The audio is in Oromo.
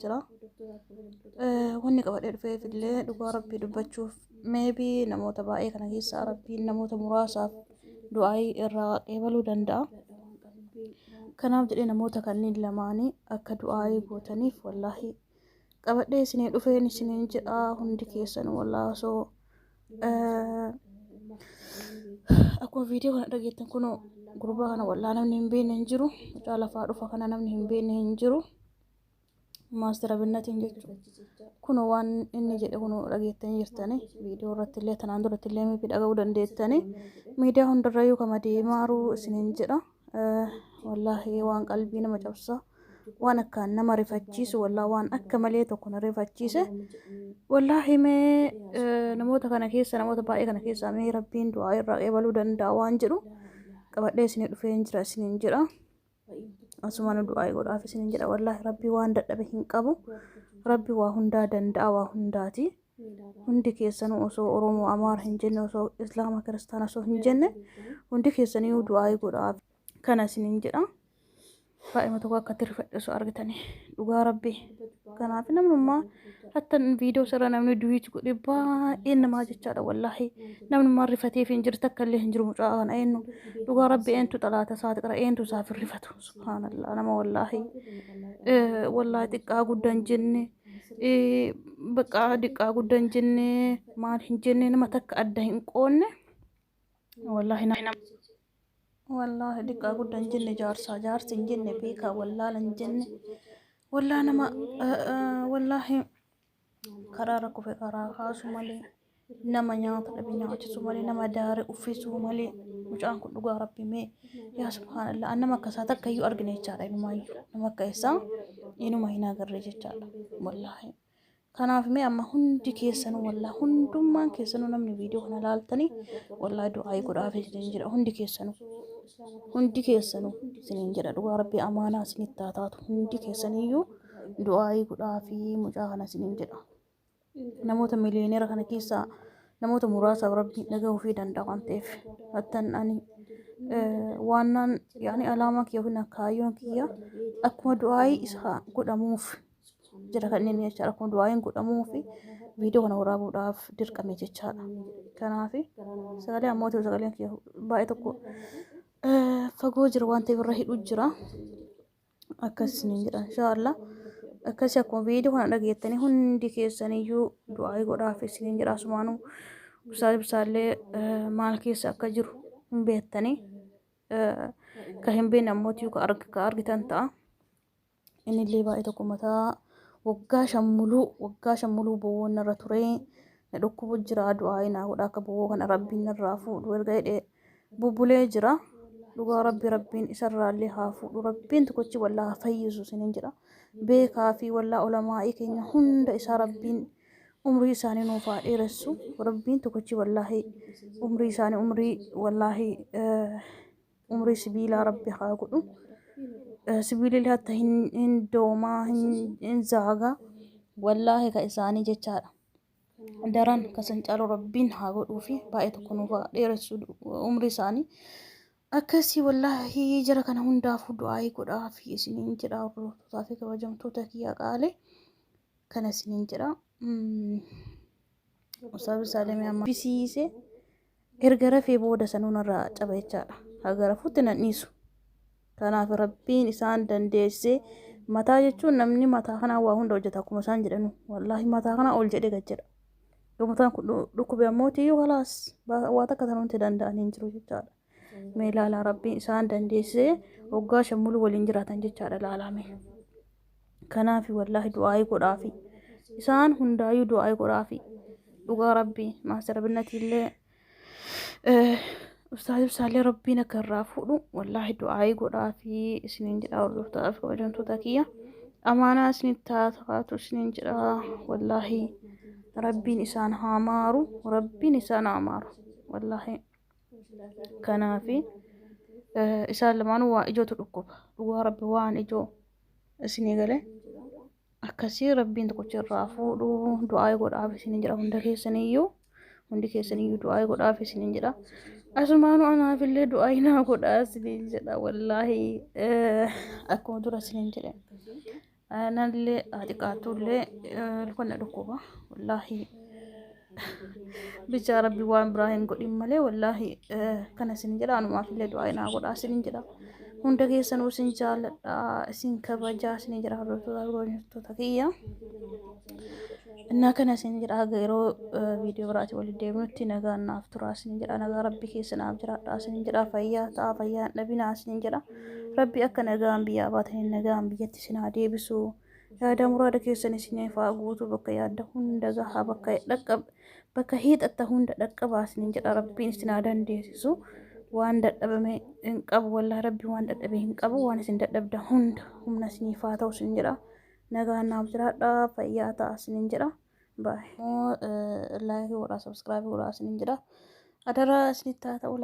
jira. Wanni qabadhee dhufeef illee dhugaa rabbii dubbachuuf meebii namoota baay'ee kana keessaa rabbiin namoota muraasaaf du'aayii irraa qeebaluu danda'a. Kanaaf jedhee namoota kanneen lamaanii akka du'aayii gootaniif wallaahi qabadhee isinii dhufeen isiniin jedha hundi keessan wallaahi osoo akkuma viidiyoo kana dhageettan kunoo gurbaa kana wallaahi namni hin beekne hin jiru. Mucaa lafaa dhufa kana namni hin beekne hin jiru. maastara binnatiin jechuudha. Kun waan inni jedhe kun dhageettanii jirtanii viidiyoo irratti illee tanaan duratti illee miifi dhaga'uu dandeettanii miidiyaa hundarrayyuu kama deemaaruu isiniin jedha. Wallaahi waan qalbii nama cabsa. Waan akkaan nama rifachiisu wallaa waan akka malee tokko na rifachiise. Wallaahi mee namoota kana keessa namoota baay'ee kana keessaa mee rabbiin du'aa irraa eebaluu danda'a waan jedhu qabadhee isinii dhufeen jira isiniin jedha. Asumaan du'aa godhaaf isin jedha wallaahi rabbi waan dadhabe hin qabu rabbi waa hundaa danda'a waa hundaati hundi keessanuu osoo oromoo amaara hin jenne osoo islaama kiristaana osoo hin jenne hundi keessaniyyuu du'aa godhaaf kana isin jedha. Daa'ima tokko akka tirfadhe osoo argitanii dhugaa rabbii. Kanaaf namnummaa hatta viidiyoo sarara namni duwiit godhe baay'ee namaa jechaadha wallaahi. Namnummaa rifateef hin jirtu akka illee hin jiru mucaa kana eenyu. Dhugaa rabbi eentu xalaata isaati qara eentu isaaf hin rifatu. Subhaanallah nama wallaahi. Wallaahi xiqqaa guddaa hin jenne. Baqqaa xiqqaa guddaa hin jenne. Maal hin jenne nama takka adda hin qoonne. Wallaahi nama. Wallaahi diqqaa gudda hin jenne jaarsaa jaarsi hin jenne beekaa wallaala hin jenne wallaa nama wallaahi karaa rakkufe karaa kaasu malee nama nyaata dhabe nyaachisu malee nama daare uffisuu malee mucaan kun dhugaa rabbi mee yaa subhaanallah an nama akkasaa takka iyyuu argine jechaadha inumaayyuu nama akka isaa inuma hin agarre jechaadha wallaahi. Kanaaf mee amma hundi keessanuu wallaa hundummaan keessanuu namni viidiyoo kana laaltanii wallaa du'aayii godhaaf isiniin jedha hundi keessanuu. Hundi keessanuu isiniin jedha dhugaa rabbii amaanaa isinitti haa taatu hundi keessaniyyuu du'aayii godhaa fi mucaa kana isiniin jedha. Namoota miliyooneera kana keessaa namoota muraasaaf rabbii nagaa ofii danda'a waan ta'eef hattan ani waannaan yaani alaamaa kiyya yookiin kaayyoon kiyya akkuma du'aayii isaa godhamuuf jira kanneen jechaadha kun du'aayin godhamuu fi viidiyoo kana waraabuudhaaf dirqame jechaadha kanaaf sagalee ammoo ta'u sagaleen kiyya baay'ee tokko eh, fagoo jira waan ta'eef irra hidhuu jira akkas isiniin jedha inshaallah akkasii akkuma viidiyoo kana dhageettanii hundi keessaniyyuu du'aayi godhaaf isiniin jedha asumaanuu ibsaa ibsaallee eh, maal keessa akka jiru hin beektanii eh, ka hin beekne ammoo tiyuu ka arg- ka argitan ta'a Innillee baay'ee tokko mataa waggaa shan muluu waggaa shan muluu bowwoon narra ture na dhukkubu jira du'aa'ii naa godha akka bowwoo kana rabbiin narraa fuudhu erga jedhee bubbulee jira dhugaa rabbi rabbiin isarraallee haa fuudhu rabbiin tokkochi wallaa haa fayyisu isiniin jedha beekaa fi wallaa olamaa'ii keenya hunda isaa rabbiin umrii isaanii nuuf haa dheeressu rabbiin tokkochi wallaahi umrii isaanii umrii wallaahi eh, umrii sibiilaa rabbi haa godhu sibiilillee hatta hin hin doomaa hin hin zaagaa wallaahi ka isaanii jechaadha daran kasan caalu rabbiin haa godhuu fi baay'ee tokko nuuf haa dheeressu umrii isaanii akkasii wallaahi jara kana hundaafuu du'aa'ii godhaa fi isiniin jedha hordoftotaa fi kabajamtoota kiyya qaale kana isiniin jedha. Mm. Ustaazu Saalimii amma bisiise erga rafee booda sanuu narraa caba jechaadha. Haga rafuutti nan dhiisu. Kanaaf rabbiin isaan dandeessee mataa jechuun namni mataa kanaa waa hunda hojjeta akkuma isaan jedhanu. Wallaahi mataa kanaa ol jedhee gad jedha. Yoo mataan kun dhu- dhukkube ammoo tiyyuu kalaas ba- waa takka tanuun itti danda'an hin jiru jechaadha. Mee ilaalaa rabbiin isaan dandeessee waggaa shan muluu waliin jiraatan jechaadha ilaalame. Kanaaf wallaahi du'aa'ii godhaafi. Isaan hundaayyuu du'aa'ii godhaafi. Dhugaa rabbii maastar binnati illee ustaaz ibsaallee rabbiin akka irraa fuudhu wallaahi du'aa'ii godhaafi isiniin jedha hordoftaaf kabajamtoota kiyya. Amaanaa isiniif taatu isiniin jedha wallaahi rabbiin isaan haa maaru rabbiin isaan haa maaru wallaahi. kanaafi isaan lamaanuu waa ijootu dhukkuba dhugaa rabbi waan ijoo isinii gale akkasii rabbiin tokkochi irraa fuudhu du'aa'ee godhaaf isiniin jedha hunda keessaniyyuu hundi keessaniyyuu du'aa'ee godhaaf isiniin jedha asumaanuu anaafillee du'aa'ee naa godhaa isiniin jedha wallaahi akkuma dura isiniin jedhe Anallee haa xiqaatullee ilkoon na dhukkuba. Wallaahi bichaa rabbi waan biraa hin godhin malee wallaahi kana isin jedha anumaaf illee du'aa inaa godhaa isin jedha. Hunda keessanuu isin jaalladha isin kabajaa isin jedha hordoftoota hordoftoota kiyya. Innaa kana isin jedha haga yeroo viidiyoo biraati waliin deemnutti nagaan naaf turaa isin jedha nagaa rabbi keessa naaf jiraadhaa isin jedha fayyaa ta'a fayyaa hin dhabinaa isin jedha. Rabbi akka nagaan biyyaa baataniin nagaan biyyatti isin haa deebisu. Yaada muraada keessan isiniif haa guutu bakka yaadda hunda gahaa bakka dhaqqab bakka hiixatta hunda dhaqqabaa isiniin jedha rabbiin isin haa dandeessisu. Waan dadhabame hin qabu wallahi rabbi waan dadhabe hin qabu waan isin dadhabda hunda humna isiniif haa ta'u isin jedha. Nagaan naaf jiraadha fayyaa ta'a isiniin jedha. Baay'ee laayikii godhaa sabskraabii godhaa isiniin jedha. Adaraa isinitti haa ta'u.